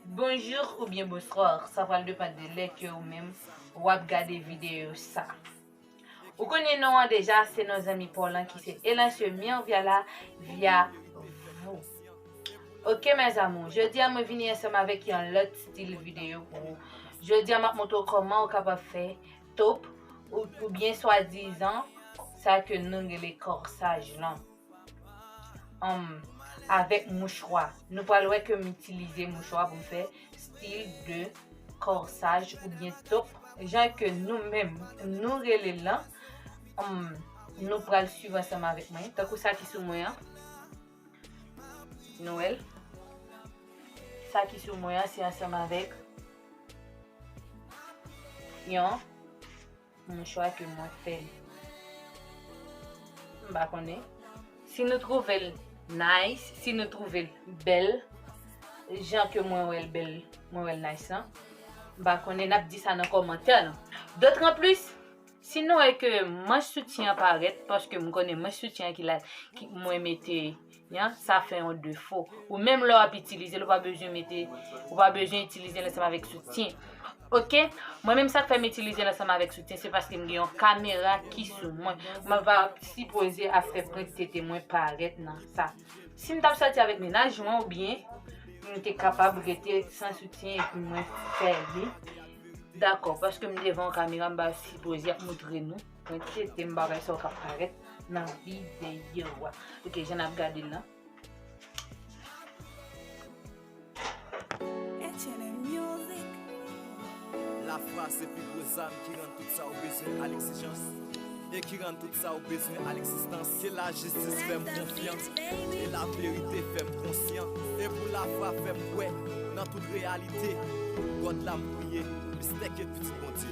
Bonjour ou byen bonsoir sa pral depan de lè ke ou menm wap gade video sa. Ou konnen non an deja se non zanmi paw lan ki se Elancio Mirviala via vous. Ok mes amours, jodi a mwen vini ansanm avèk yon lòt stil video pou ou. Jodi a map montre ou koman ou kapab fè Top ou byen swa dizan sa ke nou rele korsaj lan. Humm avèk mouchwa. Nou pral wè ke m itilize mouchwa pou m fè stil de korsaj ou byen top jan ke nou menm nou rele l lan. Humm nou pral swiv ansanm avèk mwen. Tankou sa ki sou mwen an. Nou wè l. Sa ki sou mwen an se ansanm avèk. Yon mouchwa ke mwen fè. M pa konnen. Si nou trouve l nice, si nou trouve l bèl, jan ke mwen wè l bèl, mwen wè l nice lan, m pa konnen, n ap di sa nan kòmantè lan. Dotranplis, si nou wè ke manch soutyen an parèt, paske m konnen manch soutyen an ki la, mwen mete. Yan, sa fè yon defo. Ou menm lè w ap itilize l, ou pa bezwen mete, ou pa bezwen itilize l ansanm avèk soutyen. Ok, mwen menm sa k fè m itilize l ansanm avèk soutyen, se paske m gen yon kamera ki sou mwen. Mwen va sipoze ap fè pwent tete mwen parèt nan sa. Si m t ap sòti avèk mennaj mwen oubyen, m te kapab rete san soutyen epi mwen fè li. Dakò, paske m devan yon kamera, m pa sipoze ap moutre nou. Mwen tete m bagay sa yo kap parèt nan videyo a. Ok jan ap gade l lan. Lafwa se pi gwo zam ki rann tout sa ou bezwen a lekzijans e ki rann tout sa ou bezwen a lekzistans. Ke lajistis fè m konfyan e laverite fè m konsyan e pou lafwa fè m kwè nan tout reyalite God la m priye mistè ke pitit Bondye.